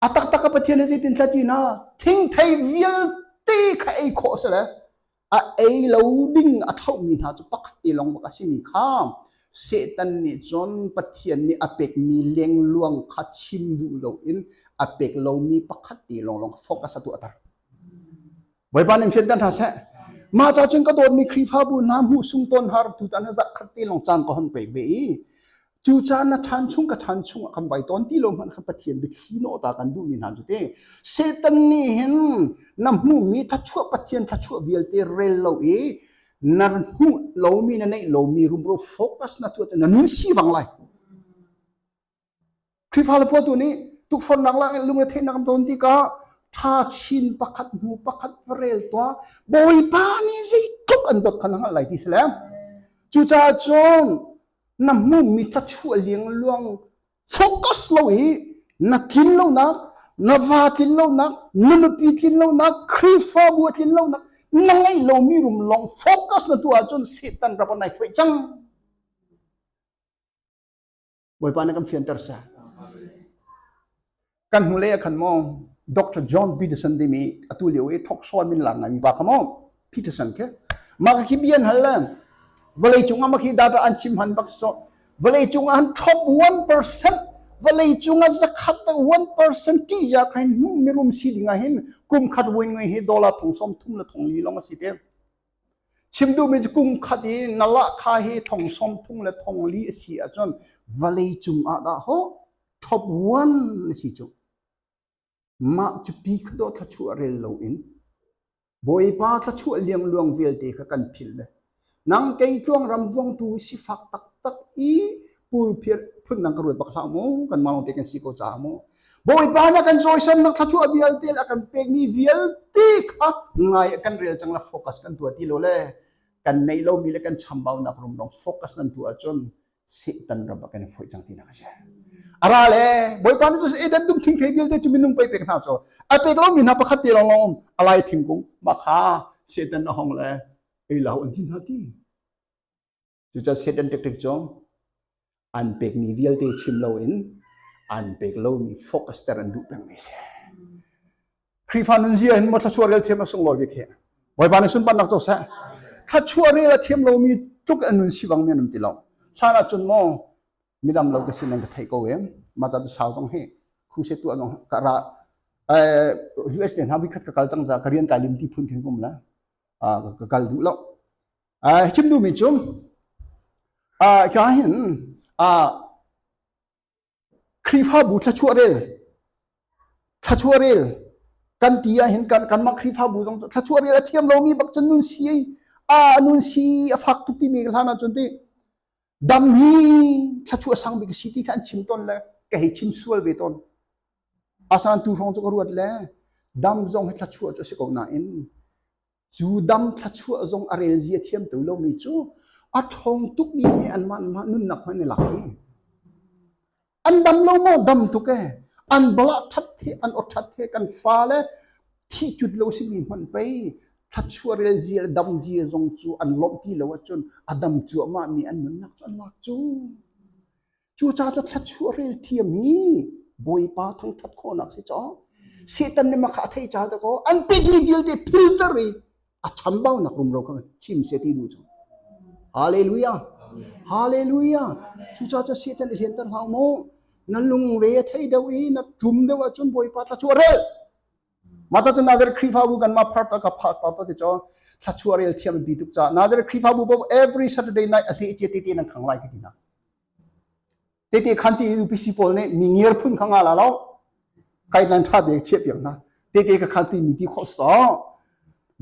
A taktak ka Pathian he zeitin tla ti na thingthei vialte kha ei khawh a si le a ei lo ding a ṭhaumi hna cu pakhat te lawng bak a simi kha Satan nih cun Pathian nih a pekmi lengluang kha chim duh loin a pek lomi pakhat te lawnglawng focus a tuahter. Bawipa nih hriat hna seh. Mah ca cun ka dawtmi Khrihfabu hna hmuh sung tawn har tu tan zak khat ti long cang ka hon pek ve i cu caan na than chung ka than chung kan vai ton ti lo man kan pathian bikhi no ta kan du mi hna chu te satan ni hin na hmu mi tha chua pathian tha chua vialte rel lo i na hmu lo mi na nei lo mi rumro focus na tu na nun si wang lai Khrihfa le pa tu nih tukforhnak lak in lungretheihnak an ton tikah ṭha chin pakhat hnu pakhat va rel tuah. Bawipa nih zeitluk an dawt kha na hngalh lai ti si le cucaah cun na hmuh mi thlachuah liangluang focus lo i na tlin lonak na va tlin lonak na nupi tlin lonak Khrihfabu a tlin lonak na ngeih lomi rum lawng focus na tu ahcun Satan rak on ai fuih cang. Bawipa na kan fianter sa. Kan hnu le khan mo Dr. John Peterson dimi atu lio e thok so min lang ngai mi ba khamo Peterson ke ma ka kibian hal la vale cung ama khi data an chim han bak so vale cung an top 1% vale cung a zakhat ta 1% ti ya khai nu mirum si dinga hin kum khat wen ngai hi dollar thong som thum la thong li long asi te Chim duhmi cu kum khat i na lahka hi thong sawm thum le thong li a si ahcun vawlei cungah dah ho top one na si cu. Mah cu pi kha dawh thluachuah rel loin Bawipa thluachuah liangluang vialte kha kan philh le nang kei tluang ram vongtu sifak taktak i pulphiat phun nang ka ruat bak hlah mu kan ma long te kan si ko ca mu bawipa na kan cawisam nak thlachu vialte a kan pek mi vialte kha ngai kan rel chang la focus kan tua ti lo le kan nei lo mi le kan chambau nak rum rong focus nan tu ahcun setan raba kan foi chang ti nak se ara le bawipa ni tu eden dum thing thei dil te chumi nung pe pek na cho a pek lo mi na pakhat te long long alai thing kung ma kha setan na hong le ei lau an tin hati Cuca set an tek tek cu an pekmi vialte chim loin an pek lomi focus ter an duh pengmi si. Khrihfa nunzia hin mo thluachuah rel thiam a sunglawi bik hi. Bawipa nih sunparnak co seh. Thluachuah rel a thiam lomi tluk an nun si bang men an ti lo. Hlan ah cun mo midam lo ka si nan ka theih ko em. Ma ca tu sau zong hi khu se tu zong ka ra US te hna vikhat ka kal cang za ka rian kai lim ti phun thin kum la ka kal duh lo chim duhmi cu hika hin Khrihfabu thluachuah rel thluachuah rel kan ti ahhin kan mah Khrihfabu zong thluachuah rel a thiam lomi bak cun nun si a nun si a fak tuk timi hlan ahcun ti dam hi thluachuah sang bik si ti kha an chim ton le ka hei chim sual ve ton asan tu hrawng cu ka ruat le dam zong hi thluachuah cu a si ko nain Cu dam thluachuah zong a relzia thiam to lomi cu a ṭhawng tukmi he anmah mah nunnak hmanh i lak i an dam lo maw dam tuk e an balah ṭhat he an aw ṭhat he kan fale thi cut lo simi hmanh pei thluachuah relzia le damzia zong cu an lawmh ti lo ahcun a dam cuahmahmi an nunnak cu an lak cu Cucaah cu thluachuah rel thiam hi Bawipa thangṭhat khawhnak si caw Satan nih makha a theih caah dakaw an tinhmi vialte philter i a chambaunak rumro kha chim se ti duh cu Hallelujah Hallelujah cucaah cu Satan i hlianter hlah u maw na lungre a thei deuh i na ṭum deuh ahcun Bawipa thluachuah rel Mah ca cu Nazareth Khrihfabu kanmah part a ka part part ti cho thlachuah rel thiam bi tuk ca Nazareth Khrihfabu po every Saturday night a hle cia te te nan khang lai ti na te te khan ti UPC pawl nih mi ngir phun khang ala lo kailan tha de chia piang na te te ka khan ti mi ti kho so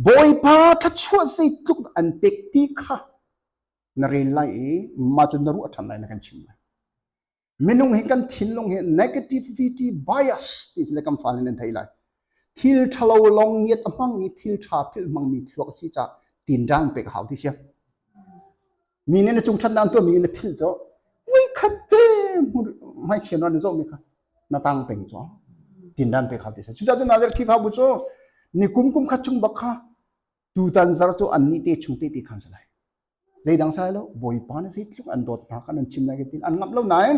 bawipa thlachuah sei tluk an pek ti kha na rel lai i ma cun na ruah than lai na kan chim lai Minung hi kan thinlung hi negativity bias ti le kan fale nan thei lai. Thil thalo long ngiat a hmang i thil tha thil hmangmi thluak si ca tinrang pek hau ti sia. Mi nih na chung than dan tua mi na phil cho. Vui khat te mai chian wan zo mi kha na tang peng cho. Tinrang pek hau ti sia. Cuca tu na der khifa bu cho ni kum kum khat chung bak kha tutan zar cho an ni te chung te te khan salai. zeidang sai lo bawipa na zeitluk an dawt hna kan an chim lai hitin an ngamh lo nain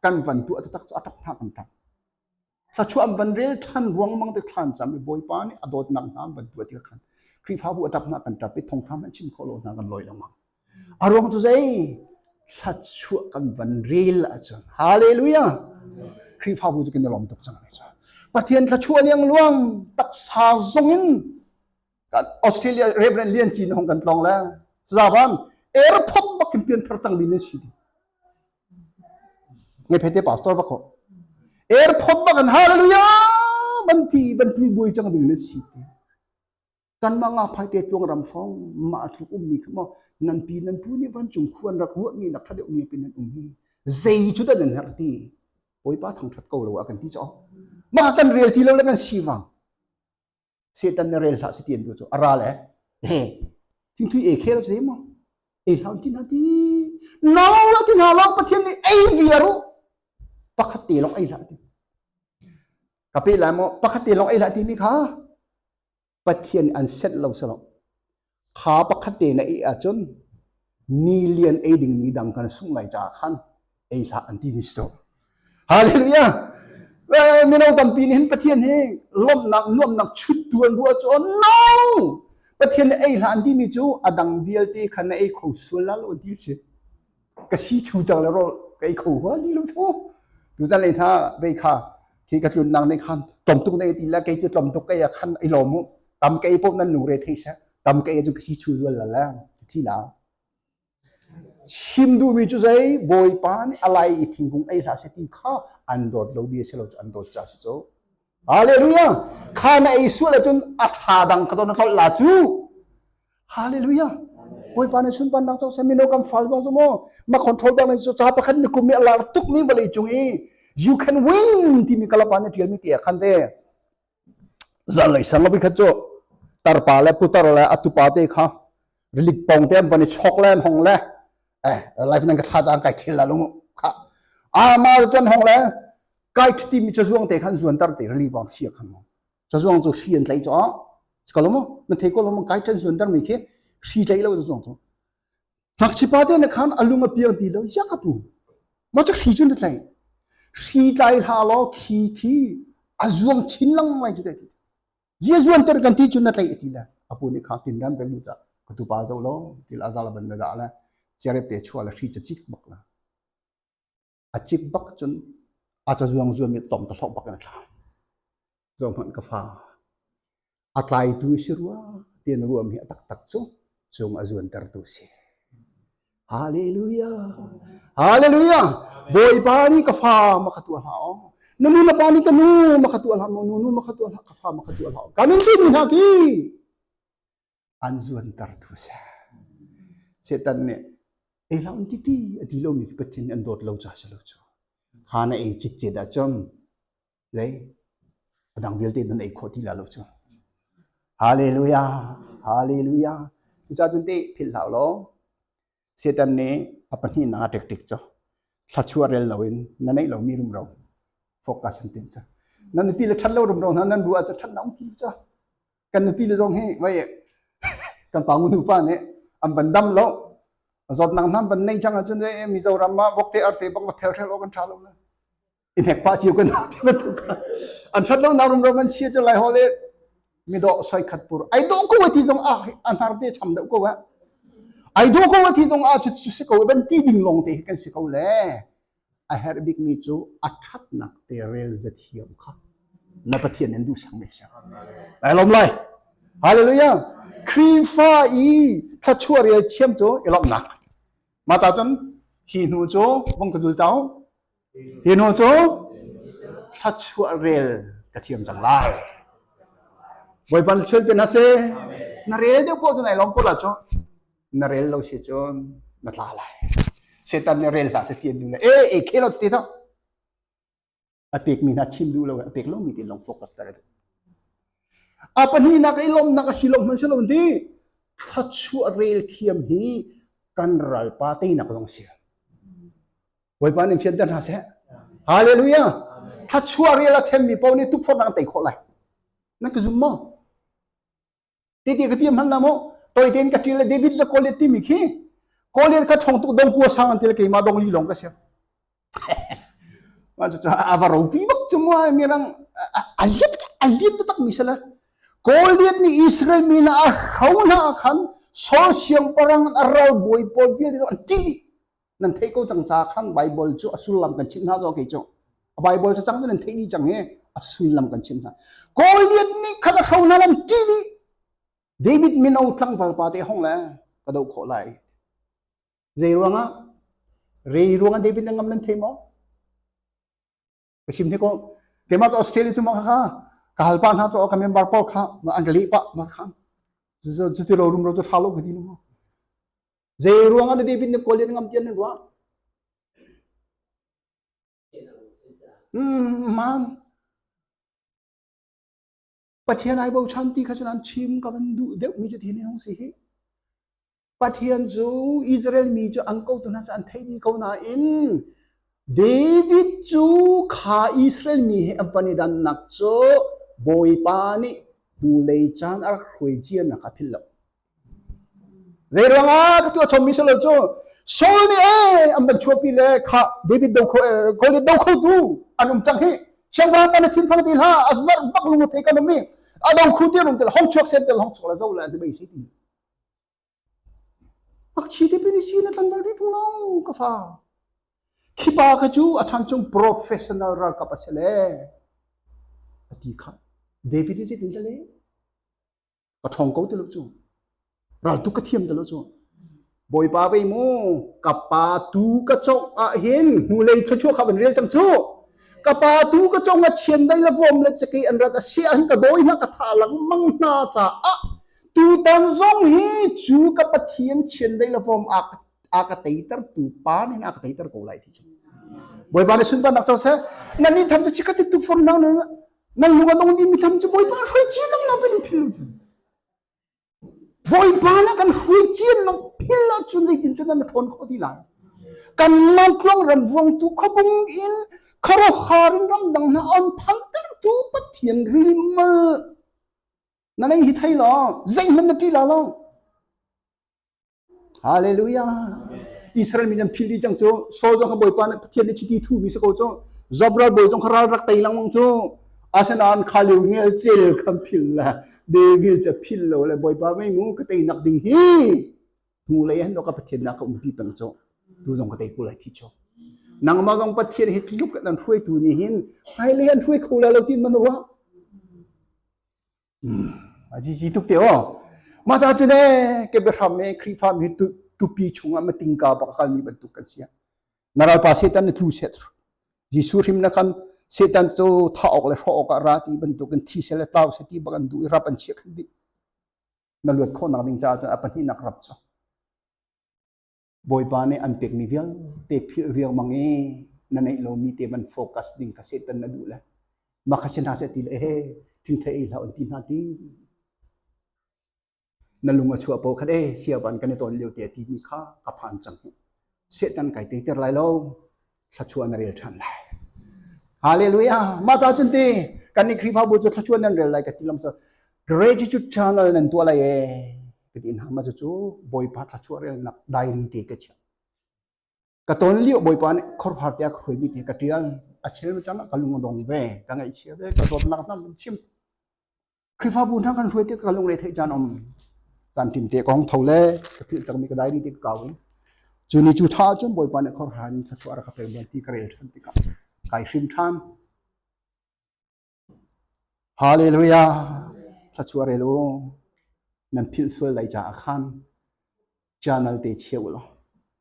kan van tu atatak cu atap thak an tap thlachu am van rel than ruang mang te thlan cham i bawipa nih a dawtnak hna van tu ti khan khrifabu atap na kan tap i thongtham an chim kholo hna kan loi lo ma a ruang cu zei thlachu kan van rel ahcun hallelujah khrifabu cu kin lom tuk chang ne pathian thlachu aliang luang taksa zong in kan australia reverend lian cin hong kan tlong le zaban airport bak kim pian thar tang din ne si di ngai phete pastor ba ko airport bak an hallelujah ban ti ban tui boi chang ding ne si ti kan ma nga phai te tuang ram phong ma thluk um mi khama nan pi nan pu ni van chung khuan rak ru mi nak tha deuh mi pin nan um mi zei chu da nan har ti oi pa thang that ko lo a kan ti cho ma kan real ti lo la kan si wang setan na rel hlah ti an duh cu a ra le eh thingthui e khe lo si mo e hlau ti na ti no lo ti na lo pathian nih ei via ru pakhat te long ei hlah ti ka pe lai mo pakhat te long ei hlah ti mi kha pathian an set lo sa lo Kha pakhat te na ih ahcun ni lian ei dingmi dang kan sungh lai caah khan ei hlah an ti ni so. Hallelujah! Mino tampi nih hin Pathian hi lawmhnak nuamnak chuttu an ruah cu no! Pathian nih ei hlah an timi cu a dang vialte khan na ei kho sual la lo an ti si. ka si chung cang le rawl ka i kho hua ti lo chu tu zan le tha be kha khi ka tlun nang ne khan tom tuk ne ti la kei ti tom tuk ke ya khan i lom tam ke po nan nu re thei sa tam ke ju kasi chu zual la la ti la sim du mi chu sai boy pa ni alai i thingkung ai hla se ti kha an dot lo dia se lo chu an dot cha se cho Hallelujah! Kha na ei sual ahcun a tha dang ka ton na tlolh la cu. Hallelujah! Bawipa na sunpan nak cang semino kan fal zong cu maw ma control bang so ca pakhat ni kum i Allah tuk mi vale cung i you can win timi kalapa na tial mi ti khan te zanlei sang vi khat chu tarpa le putar le atupa te kha rilik pong te an van i chok le hong le eh life nan ka thla jang kai thil la lung kha arma ton hong le kai thiti mi chazuang te khan zuan tar te rali bang sia khan mo chazuang chu shi an tlai cho skalomo na thei ko lom kai than zuan tar mi khi shi tlai lo chazuang chu thak chipa te na khan alung apiang ti lo yakapu ma chu shi chun tlai shi tlai la lo khi khi azuang chin lang mai chu te Jesuan ter kan ti cun na tlei ti le apu nih khang tin ran beng nu ca ka tu pa zo lo til azala ban na da le cherep te chua la shi cha chik bak na a chik bak cun a cha zuang zuang mi tom ta thok bak na thla zo hman ka fa a tlai tu si rua tin ruam hi a tak tak chu chung a zuan ter tu si Hallelujah! Hallelujah! Bawipa nih ka fa maka tua hlah aw. Na nu na pa nih ka nu maka tua hlah, nu nu maka tua hlah, ka fa maka tua hlah. Kami ti mi hna ti an zuan tar tu sa. Setan nih ei la un titi a ti lo mi pathin an dawt lo cha sa lo chu. Kha na ei chit che da chom lei a dang vialte nan ei khawh ti la lo cu hallelujah hallelujah cuca cun te philh hlah law setan nih a pahnih na tek tek cho thlachuah rel lo in na neih lomi rumro focus an tim cha nan nupi le that lo rumro hna nan ruah cha that naung ti cha kan nupi le zong hi vai kan pa nu pa nih an ban dam lo zawt nang nam ban nei chang acun mi zoram ma bokte arte bok va phel rel kan tha lo na i hnek pa cio kan ti bantuk an that lo na rum ram an chia to lai ho le mi do soi khat pur ai do ko ti zong a anar te cham da ko wa ai do ko ti zong a chu chu se ko ban ti ding long te kan se ko le a her bik mi chu athat nak te rel za thiam kha na pathian en du sang me sa lai lom lai hallelujah krifa i tha chua rel chiam chu elom nak mata chun hi hnu chu vong ka zul tau Hi nu cu thluachuah rel ka thiam cang lai. Bawipa na sual pin a si. Na rel deuh poh cu nai lawm poh la cu na rel lo si cun na tla lai. Setan nih rel hlah se ti an duh le e e khelo ti to. A pek mi hna chim duh lo a pek lo mi tin long focus tare tu. A pahnih nak i lom nak a si lom hman si lo ti thluachuah rel thiam hi kan ralpa te nak zong si. Bawipa nih fianter hna seh. Hallelujah. Thachua rial a themmi paoh nih tukforh nak tei khawh lai. Nan ka zum maw? Titi ka piam hman na mo. Toi ten ka ṭil le David le Goliath timi khi Goliath ka ṭhong tuk dong kua sang an til keima dong li long ka siam. Wan cuca ava ropi bak cumua mirang a liet a liet tak mi sala. Goliath ni Israel mi na a hro na khan Saul siang parang a ral boi paul vial an ti nan theih ko cang ca khan Bible cu a sullam kan chimh hna cu okay cu a Bible ca cang cu nan theih dih cang hi a sullam kan chimh hna Goliath nih khat a hro hna lan ṭi dih David mino tlangval pa te hong le ka do khawh lai zei ruangah rei ruangah David na ngam nan thei maw ka chim hi ko keimah to australia cu ma kha ka halpa hna to ka member pawl kha ma an ka leh pa ma kha cu ti ro rum ro tu tha lo ka ti no zei ruang an david ne kolian ngam tian ruwa mm mam Pathian ai bochan ti kha cun an chim ka van duh deuhmi cu thin hung si hi. Pathian cu Israel mi cu an kotu hna cu an thei dih ko nain David cu kha Israel mi he a van i dannak cu Bawipa nih hnulei caan a rak hruai cianak a philh lo. Zeiruangah ka tuah chommi si lo cu Saul nih ee an van chuahpi le kha David do kho Goliath do khotu an um cang hi chiangwang kan thin thang ti hla a zar bak lungu thei kan um mi a dong khu ti rung tel hong chuak sen tel hong chok la zo la te bai si ti ak chi ti pini si na tlan bal rit lo ka fa khi pa ka chu a chan chung professional ral kap a se le a ti kha David ni si tin le ka ṭhawng ko ti lo cu raltuk ka thiam ti lo cu bawipa vei mu ka pa tu ka congh ah hin hnulei thluachuah kha van rel cang cu ka pa tu ka congh a chian dai la vom le cheki an rat asiah an ka dawi hna ka tha lengmang hna caah tutan zong hi cu ka pathian chian dai la vom a a ka teiter tu pa nin a ka teiter ko lai ti cu bawipa ne sunpan nak chau se nani tham chu chikati tu fon nang na nan lung a nung ding mi tam cu bawipa hrui cian lang lo bin thil cu bawipa le kan hrui cian lo phil lo cun zeitin cun nan ṭhawn khawh ti lai kan lotluang ram vuang tu khapung in kharohar in ram dang na om phal ter tu pathian rimal na nei hi thei lo zeihman na ṭi la lo Hallelujah. Israel mi an phil dih cang cu Saul zong kha Bawipa nih Pathian nih chiti thuhmi si ko cu Zobral bawi zong kha ral rak tei lengmang cu asinain khali ngel cel kan phil le David ca phil lo le Bawipa mei mu ka tei nak ding hi hnu lei an ka Pathian nak ka um pi peng cu tu zong ka tei ku lai thi chu nangmah zong Pathian hi tluk an hruaitu ni hin hai le an hruai kho la lo tin man wa a si si tuk te o mah ca cu ne ke biahram me khrifa mi tupi chungah mating ka bak kal ni bantuk kan sia naral pa setan ne thlu set Jesu hrim na kam setan cho tha ok le hro ok ra ti bantuk kan thi se le tau se ti bakan du rap an chia kan di na luat kho nak ding cha cha apani nak rap so Bawipa nih an pekmi vialte philh riangmang i na neih lomi te van focus ding ka setan na duh le mah kha si hna seh ti le he thingthei ei hlah an ti hna ti na lung a chuah po khat e sia van kan i ton lio te ti mi kha ka phan cang setan kai te ter lai lo thluachuah na rel ṭhan lai. Hallelujah! Mah ca cun ti kan nih Khrihfabu cu thluachuah nan rel lai ka ti lam sa gratitude channel nan tuah lai e ka ti hna ma cu Bawipa thluachuah relnak diary te ka chia. Ka ton liu Bawipa nih khorfar te a khoi mi te ka tial a chel ma chang ka lung dong ve ka ngai chia ve ka zawt nak nam chim Khrihfabu hna kan hruai te ka lungre theih caan om tan tim te kong tho le ka phil chak mi ka dai ni te ka kaw chu ni chu tha chun boy pa ne khor han tha su ara ka pel ban ti ka rel than ti ka kai hrim tham hallelujah tha su re lu nan phil sual lai cha akhan channel te cheu lo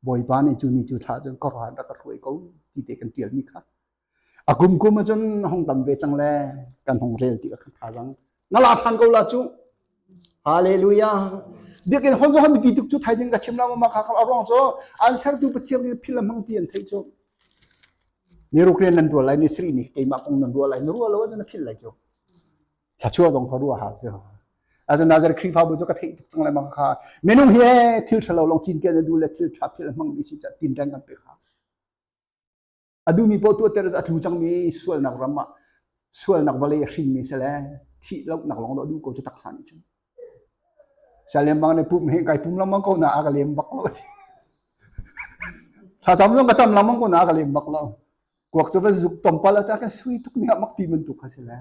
bawipa nih cu ni cu thla cun kawrhan rak ka hruai ko ti te kan tial mi kha a kum kum a cun hong tam ve cang le kan hong rel ti ka tha jang na la than ko la cu Hallelujah. Biakin hon zo han pi tuk chu thai jing ka chim la ma kha kha arong cho an ser tu pathiam ni phil mang ti an thei chu ni rukren nan rual lai ni sri ni keima kong nan rual lai ni rual lo na phil lai chu thlachuah zong kha ruah ha cu azanazer khrifabu cu ka theih tuk cang le mang kha minung hi thil thalo long cin ke na du le thil tha phel mang mi si cha tin reng kan pe kha adu mi po tu ter a tlu chang mi sual nak ram ma sual nak vale hrin mi se le thi lok nak long do du ko chu taksa ni chu Sial lengmang nih pum hi kai pum lengmang ko na a ka lem bak lo. Thlacam zong ka cam lengmang ko na a ka lem bak lo. Kuak cu van zuk tompal a ca kan sui tuk ni ah mak ti bantuk ka si le.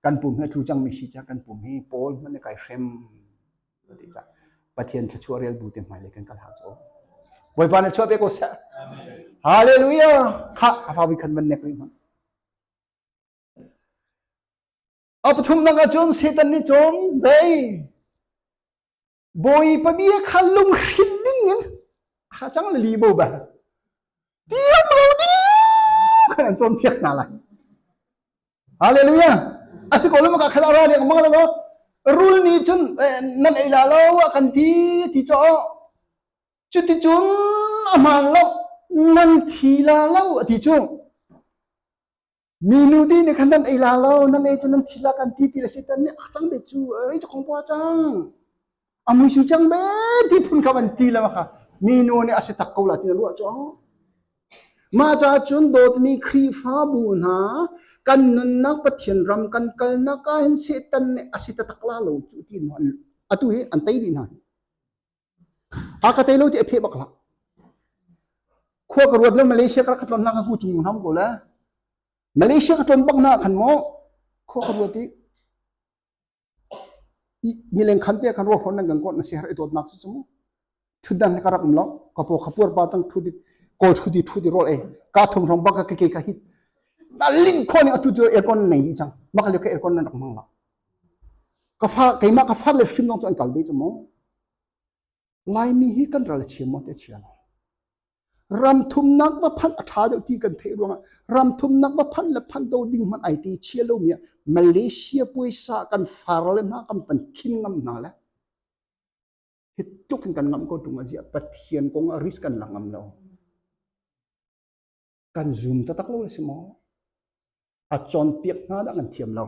Kan pum hi thu cang mi si ca kan pum hi pawl man ne kai hrem ti ca. Pathian thluachuah rial bu te hmai le kan kal ha cho. Bawipa na chuah pe ko sa. Hallelujah. Kha a fa vi khan man nek ri man. A pathumnak ahcun Satan nih cun zei bawi pami kha lunghrin ding in ha cang le li bo ba diam lo ding an cawn thiak hna lai hallelujah asi ko lama ka khala ra leng mang lo rul ni chun nan ei la lo kan ti ti cho cuti chun aman lo nan thi la lo ati chu Mi nudi nih khan nan ei la lo, nan ei cu nan thi la kan ti ti le setan nih ah cang be cu rei cu kong pua cang a mui sui cang be ti phun kha van ti le ma kha mi nu nih a si tak ko la ti na ruah cu mah ca cun dawtmi Khrihfabu hna kan nunnak Pathian ram kan kalnak ah hin Satan nih a si tatak la lo cu ti no atu hi an tei dih hna hi a ka te lo ti a phe bak la khua ka ruat le malaysia ka ka ton na ka ku chung nam ko le malaysia ka ton bak na khan mo khua ka ruat i mileng khan te kan ro hron nan kan kon na se har itot nak su sumu thu dan ka rak lo ka po khapur pa tang thu di kol thu di thu di rol e ka thong thong bak ka ke ka hit na lin khon atu tu aircon nei ni chang makale ka aircon nan rak mang la keimah ka far le hrim lawng cu an kal ve cu maw? Laimi hi kan ral chia maw te chia lo. Ramthumnak va phanh a ṭha deuh ti kan theih ruangah ramthumnak va phanh le phanh do ding hmanh ai ti chia lomi ah Malaysia puaisa kan far le hna kan pan khin ngam hna le hi tluk in kan ngamh ko ṭung a ziah Pathian kong ah risk kan la ngam lo. kan zum taktak lo na si maw? A cawnpiak hna dah kan thiam lo.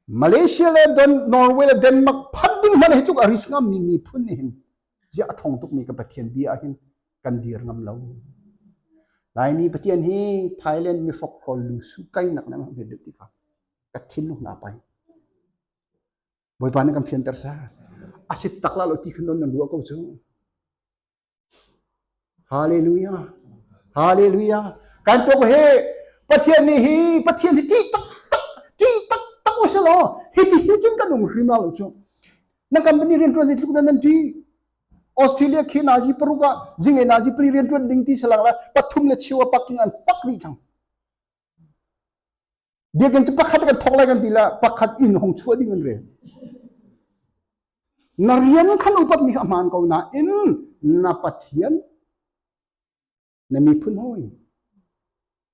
Malaysia le Don, Norway le Denmark phan ding hmanh hi tluk a risk ngam mi miphun nih hin zia a thong tuk mi ka Pathian bia ah hin kan dir ngam lo. Laimi Pathian hi Thailand mi hrok hrol lu su kai nak na mi deuh ti ka ka thin lu na pai. Boipa na kan fian ter sa. Asit takla lo ti khan don na lua ko chu. Hallelujah. Hallelujah. Kan tuk hi Pathian nih hi Pathian hi ṭih tak tak ṭih tak tak u si law hi ti hin cun kan um hrim la lo chu. Nan company rian ṭuan zeitluk dan nan ṭi. Australia khi nazi paruk ah zinge nazi pali rian ṭuan ding ti salang la pathum le chiu a paking an pak dih cang. Biakinn cu pakhat kan thawk lai kan ti lah pakhat inn hong chuah ding an rel. Na rian khan upat mi a hmaan ko nain na Pathian na miphun hoi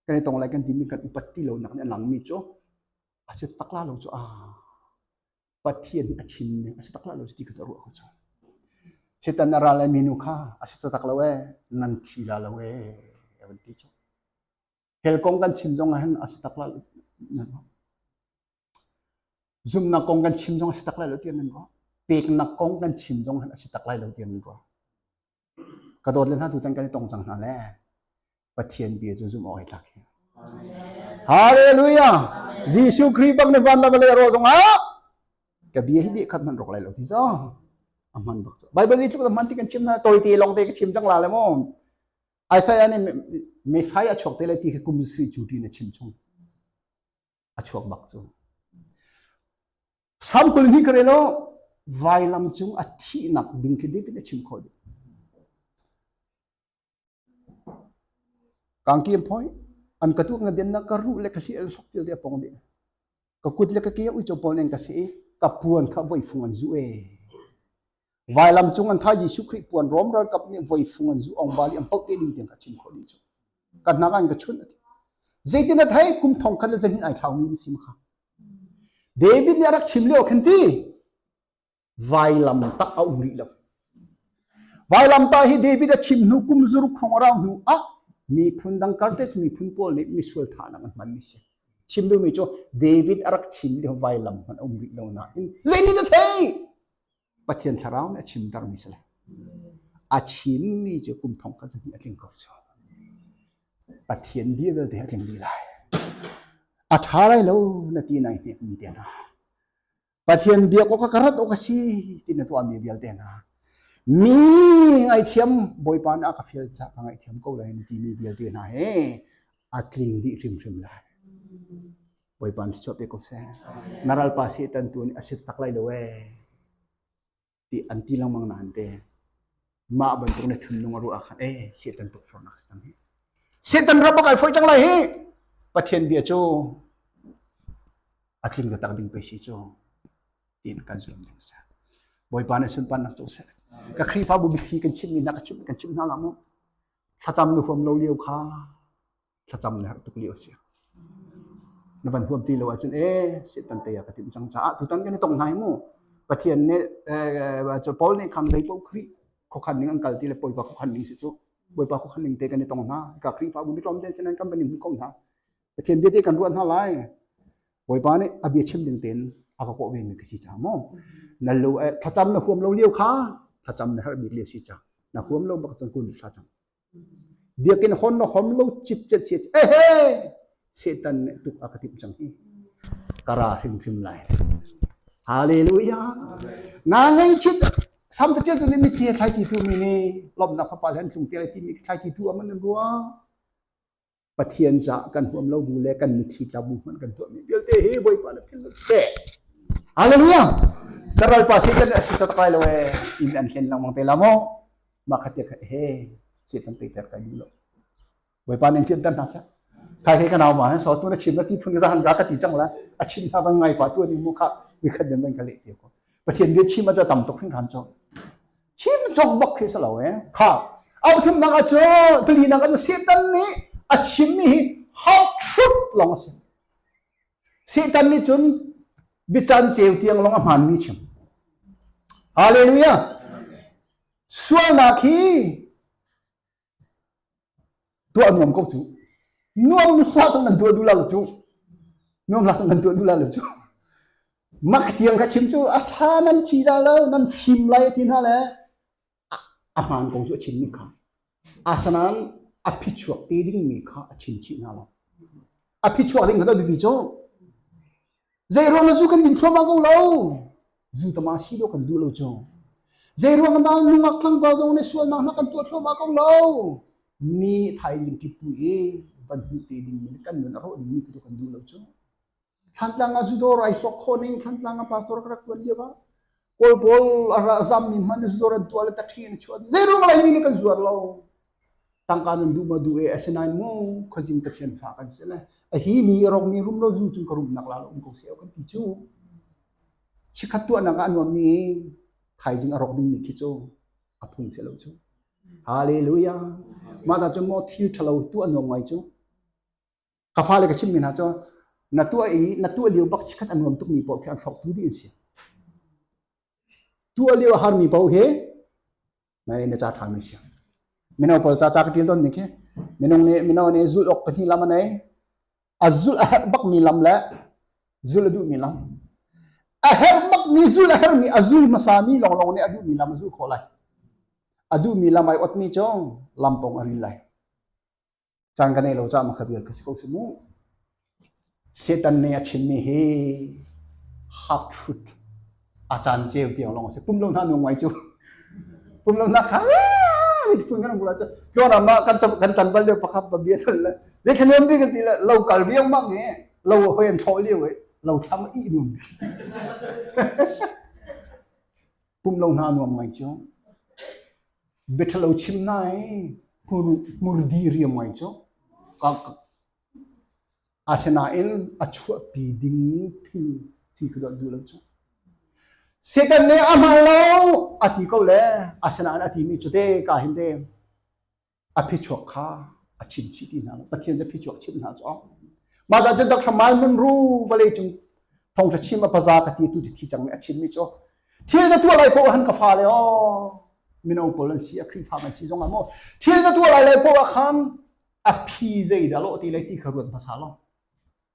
kan i tong lai kan timi kan upat ti lo nak nih a lang mi cu a si tak la lo cu a Pathian nih a chim ning a si tak la lo cu ti ka ruah ko cu setan na ra lai minu kha a si tak lo e nan thi la lo e a van ti cu Hell kong kan chim zong ahhin a si tak lai nan ruah. Zumnak kong kan chim zong a si tak lai lo tiang nan ruah. Peknak kong kan chim zong ahhin a si tak lai lo tiang nan ruah. Ka dawt le hna tutan kan i tong cang hna le Pathian bia cu zum awk ai tlak hi. Hallelujah! Jesuh Khrih bak ne van la vale ro zong ah ka bia hi nih khat man rok lai lo ti zo. A man bak zo. Bible i tluk da man ti kan chim na toy te long te ka chim jang la le mo. Isaiah nih Messiah a chuak te lai ti khi kum sri cu ṭin a chim chung a chuak bak cu Sam kul hnih ka relo vailam cung a thihnak ding khi David a chim khawh ding kangkim point an ka tu nga den na ka ru le ka hli el sok til dia pong di ka kut le ka ke uico pawl nan ka si i ka puan kha voifung an zu e vailam cung an tha Jesuh Khrih puan rom ralkap nih voifung an zu ong bali am paute ding tiang ka chim khawh di chu ka hna an ka chun ati zeitin a thai kum thong khan le zanin ai thlau mi sim kha David nih a rak chim leo khan ti Vailam tak a um rih lo. Vailam ta hi David a chim hnu kum zaruk khong rau hnu ah miphun dang kartes miphun pawl nih misual thahnak an hman mi si. Chim duhmi cu David a rak chim lio vailam hman a um rih lo nain zeitin a thei Pathian thlarau nih a chim dar mi si le a chim mi cu kum thong ka zahni a tling ko so Pathian bia vialte a tling di lai a tha lai lo na ti nai hnek mi te na Pathian biak awk ka rat awk a si ti na tuahmi vialte hna mi ngaithiam Bawipa na ka fial ca ka ngaithiam ko lai na timi vialte hna he a tling dih hrimhrim lai. Bawipa na si chuah pe ko seh. Na ralpa Satan tu nih a si tak lai lo ee. ti an ti lengmang nain te mah bantuk ne thunlung a ruah ah khan eh setan tukfornak a cang hi setan rabak ai foi cang lai hi pathian bia cu a tling ka tak ding pe si cu tin kan zuam ding sa boipa ne sunpan nak tu se ka khrifa bu bithli kan chim mi na ka chim kan chim na la mu thlacam nu huam lo liu kha thlacam na herh tuk lio a si. Na van huam ti lo ahcun ee setan te ya ka tim cang caah tutan kan i tong hna hi mu Pathian nih Paul nih khan dei paoh Khrih khokhan ning an kal ti le Bawipa khokhan ning si cu Bawipa khokhan ning te kan i tong hna ka Khrihfa bu mitlawm ten sinan kan banim kong hna Pathian bia te kan ruat hna lai Bawipa nih a bia chim ding ten a ka kawh ven mi ka si cha mo na lo thlacam na huam lo lio kha thlacam na har bik lio si cha na huam lo bak chan kun thla chang Biakinn hon na hom lo cipcet se ehe setan nih tuk a ka timh cang hi kara hrimhrim lai hallelujah nga ngei chit sam ta tia tu ni ti thlai ti tu mi ni lomnak pa pal hen tlung te lai ti mi thlai ti tu aman ruang Pathian caah kan huam lo bu le kan mithi tlabu hmanh kan tuah mi vialte hi Bawipa na philh se. Hallelujah. Ka Bawipa Satan a si ta kai lo e in an hlen lang mang te la mo ma khatia ka he si tan te ter kan lo. Bawipa nen thian tan hna sa. Kai he ka naw ma so tu na chim na ti phun ga han ga ka ti chang la a chim na bang ngai pa tu ni mu kha mi khat den ban ka le te ko. Pathian bia chim a cha tam tok hin ran cho. Chim cawk bak khi si lo e. Kha au thim nak ahcun tuli nak an Satan nih a chim mi hi half truth long a si. Satan nih cun bican ceu tiang long a hman mi chim. Hallelujah. Sualnak hi tuah nuam ko cu nuam hla sang nan tuah duh lo cu nuam hla sang nan tuah duh lo cu mak tiang ka chim cu a tha nan thi da lo nan fim lai ti hna le a hmaan ko cu a chim mi kha asanan a phichuak te ding mi kha a chim chih hna lo a phichuak ding kha to bibi cu Zeiruang na zu kan din thluahmah ko lo. Zu tama si do kan duh lo cu. Zeiruang na nungak tlangval zong le sualnak na kan tuah thluahmah ko lo. Mi nih thaizing kip tu i van hmuh te ding min kan nun a rawh ding mi tu kan duh lo cu. Thantlang a zu dawrai hlok khaw ning Thantlang a pastor ka rak tuan lio ah Kawl pawl a ra zammi hmanh nih zor an tuah le taṭhi an chuah. Zeirung laimi nih kan zuar lo. Tangka nan duh ma duh e, asinain mu khuazing Pathian fa kan si le. A hi mi a rokmi rum lo zu cung ka rumnak la lo um ko seu kan ti cu. Chikhat tuahnak ah nuammi thaizing a rok dingmi khi cu a phung si lo cu. Hallelujah. Mah za cu mo thil ṭhalo tu a nuam ngai cu. ka fale ka chimmi hna cu na tuah i na tuah lio bak khat a nuam tukmi paoh khi an hrawk tu dih an si tuah lio a harmi paoh hi mei na ca ṭha nan si mino pawl ca ca ka ṭil don ni khi minung nih mino nih zulh awk pahnih lam a nei a zulh a herh bakmi lam le zulh a duhmi lam a herh bakmi zul a herhmi a zul hmasami lawnglawng nih a duhmi lam a zul khawh lai a duhmi lam ai otmi cu lampong a ril lai caan kan ei lo caah makha vial ka si ko si mu setan nih a chimmi hi half truth a caan ceu tiang long si pum lo hna nu ngai cu pum lo hna kha pun kan bula cha kyo na ma kan kan tan bal le pakhat ba bia thal le de thlem bi kan ti le lo kal riang mang he lo hoen tho liu he lo thlam i num pumh lo hna nuam ngai cu biathalo chim na i hmurdi riam ngai cu asinain a chuahpi dingmi thil ti ka dot duh lo cu Satan nih a hman lo a ti ko le asinain a timi cu te ka hin te a phichuak kha a chim chih ti hna lo pathian le phichuak chim hna cu mah da jun dak thramal mun ru vale chung thong tha chim a paza ka ti tu thi chang me a chim mi chu thil na tua lai po han ka fa le o mino pol an si a kri fa man si zong amo thil na tua lai lai po a khan a phi zei da lo ti lai ti ka ruan pasalo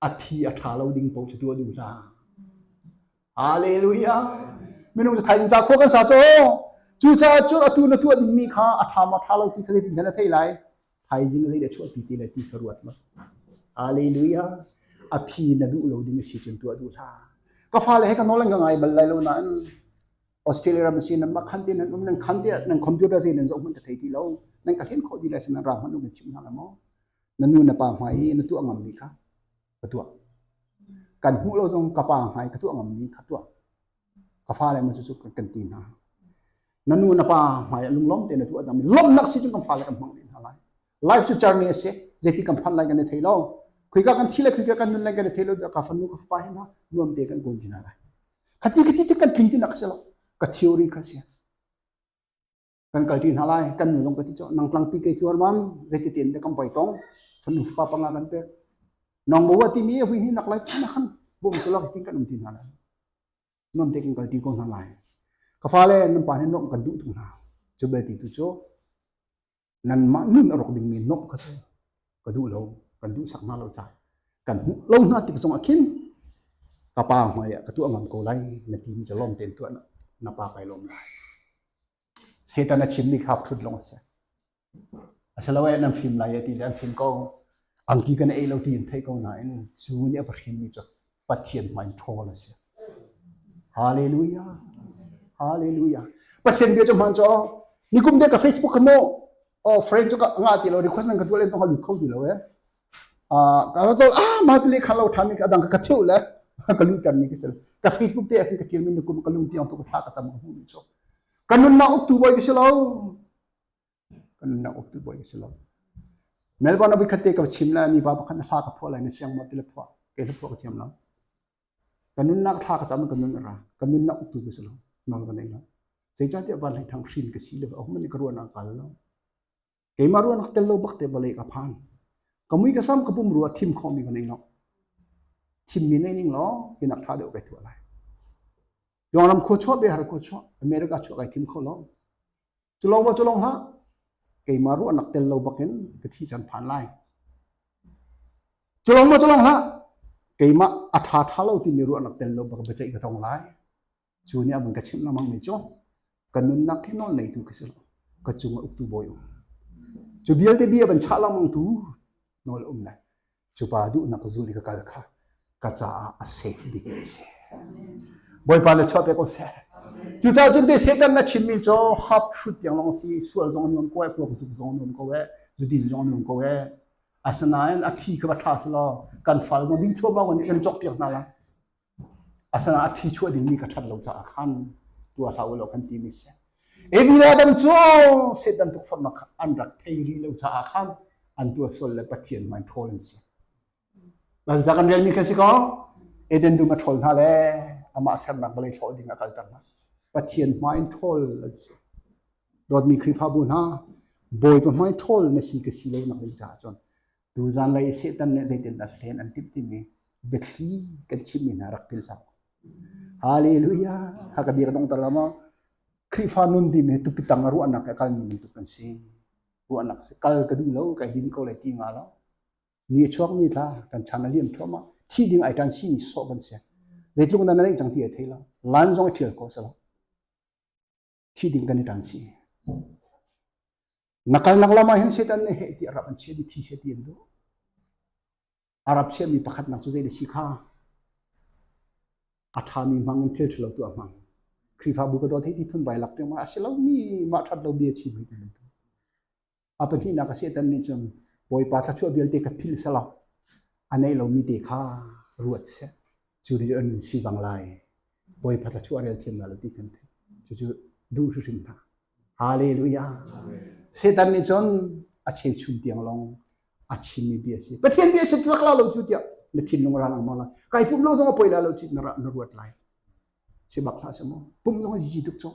a phi a ṭha lo ding paoh cu tuah duh hlah. Hallelujah! Minung cu thain ca khua kan sa cu. Cucaah cun atu na tuah dingmi kha a ṭha maw ṭha lo ti kha zeitin khan a theih lai. Thaizing zei le chuahpi ti le ti kha ruat ma. Hallelujah! A phi na duh lo ding a si cun tuah duh hlah. Ka fale he ka nawl an ka ngai bal lai lo nain Australia ram si nan mah khan ti nan um nan khan ti nan computer sai nan zoh hman ka thei ti lo nan ka hlen khawh ti lai sin nan ra hman nan chim hna la maw na nu na pa hmai i na tuah ngammi kha ka tuah kan hmuh lo zong ka pa hmai ka tuah ngammi kha tuah ka fale ma cu kan ti hna na nu na pa hmai a lunglawm te na tuah dang lawmnak si cun kan fale kan hmang len hna lai life cu journey a si zeiti kan phan lai kan thei lo khui ka kan thi le khui ka kan nun lai kan thei lo ka fanu ka pa hi na nuam te kan gun jina lai khati khati ti kan tling ti nak se lo ka theory ka sia kan kalti hna lai kan nu zong ka ti cho nang tlangpi ke chuarmam zeti ten de kam bai tong fanu fa panga kan pek nong mo wa ti mi hui ni nak lai na khan bo mu sala tin kan um tin na lai nom te kan kalti ko na lai ka fa le nan pa ne nom kan du thung na chu bel ti tu cho nan ma nun arok ding mi nok ka so ka duh lo kan duhsak hna lo ca kan hmuh lo hna tik zong ah khin ka pa hmai ah ka tuah ngam ko lai na ti mi ca lawm tein tuah na pa kai lawm lai setan a chim mi kha thut long a si a si lo e nan fim lai e ti le an fim ko ang ti kan ei lo ti in thei ko na in cu ni a va hrim mi cu Pathian hmai ṭhawl a si. Hallelujah. Hallelujah. Pathian bia cu hmaan cu nikum dek ka Facebook ka mo oh friend cu ka nga ti lo request nan ka tual en tong ka lut kho ti lo e ah ka to ah ma tu le khan lo than mi ka dang ka theu le ka lu tan mi ka sel ka Facebook te ka tiel min nikum ka lung tiang to ka tha ka tam hu ni so kanun na ok tu boy ki selo kan na uk tu buai ka si lo melbourne a khat te ka chim la mi ba pakhat na thla ka phuah lai na siang mo ti la phuah ke la phuah ka thiam lo kan nun nak thla ka cham kan nun ra kan nun nak tu ka si lo non ka nei lo sei cha ti ban lai thang hrin ka si lo a hum ni ka ruan ang kal lo ke ma ruan tel lo bak te bale ka phan ka mui ka sam ka pum ru thim kho mi ka nei lo thim mi nei ning lo ke nak tha deu ke thua lai yong ram kho chho be har kho chho america chho kai thim kho lo Culong ma culong hlah, keimah ruah nak tel lo bakin ka thi can phan lai. Culong ma culong hlah, keimah a tha tha lo timi ruah nak tel lo bak bacaih ka tong lai. Cu ni abun ka chim namang mi cho, ka nun nak hi non nei tu ka silo, ka chung a uktu boy um. Cu bial te bia ban cha lamang tu nol um lai. Cupa duhnak zul i ka kal kha ka caah a safe bik a si. Bawipa le chuah pek ko seh. Cucaah cun te Satan na chimmi cu hap hrut tiang lawng si, sual zong a nuam ko e, puaktuk zong a nuam ko e, zudin zong a nuam ko e. Asinain a phi kha va ṭha selaw kan fal zong ding thuam ah kan cok piak hna lai. Asinain a phi chuah dingmi ka ṭhat lo caah khan tuah hlah u law kan timi a si. Ebil Adam cu Satan tukforhnak kha an rak thei rih lo caah khan an tuah sual le Pathian hmai ṭhawl an si. Banza kan relmi kan si ko. Eden dum a ṭhawl hna le amah sernak vawlei hlawh ding a kalter hna. Pathian hmai ṭhawl an si. Dawtmi Khrihfabu hna, Bawipa hmai ṭhawl na si ka si lo nak ding caah cun Tu zanlei Satan nih zeitin dah hlen an timh timi biathli kan chimmi hna rak philh hlah. Hallelujah. Haka bia ka dong tar lama Khrihfa nun timi hi tupi tang a ruahnak a kalmi bantuk kan si. Ruahnak si kal ka duh lo kai din ko lai ti nga lo. Ni chuak ni tla kan chan a liam thuama thi ding ai tan si ni so kan si. Zeitlung nan nei chang ti a thei lo. Lan zong a thial ko sa lo. thi ding kan i ṭang chih. Na kalnak lam ah hin Satan nih heh ti Arab an chia mi thi chia ti an duh. Arab chia mi pakhat nak cu zei da si kha a ṭha mi hmang in thil ṭhalo tu a hmang. Khrihfabu ka dawt hei ti phun vai lak tiang ma a si lo mi mah ṭhat lo bia chim hei ti bantuk. A pahnihnak a Satan nih cun Bawipa thluachuah vialte ka philh selaw a neih lomi te kha ruat seh. Cu nih an nun si bang lai. Bawipa thluachuah rel thiam lo ti kan theih. Cucu duh hrim hna. Hallelujah. Satan nih cun a cheuchum tiang long a chimmi bia a si. Pathian bia a si tlak la lo cu tiah na thinlung ra lang ma la. Kai pum long zong a poi la lo ci na ra na ruat lai. Si bak hlah sa maw. Pum zong a zi tuk cun.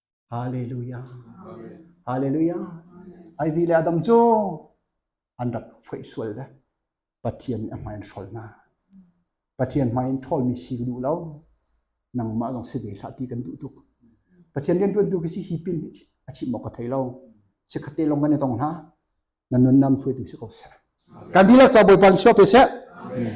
Hallelujah. Hallelujah. Ai vi le adam cu an rak foi sual de. Pathian a hmain hrol na. Pathian hmain ṭhol mi si duh lo. Nangmah zong si ve hlah ti kan duh tuk. Pathian rian ṭuan tu khi si hi pin a chim mok ka thei lo. Si khate long kan i tong hna. Na nun nam thuai tu si ko se. Kan tilak cha boi pan shop pe se. Amen.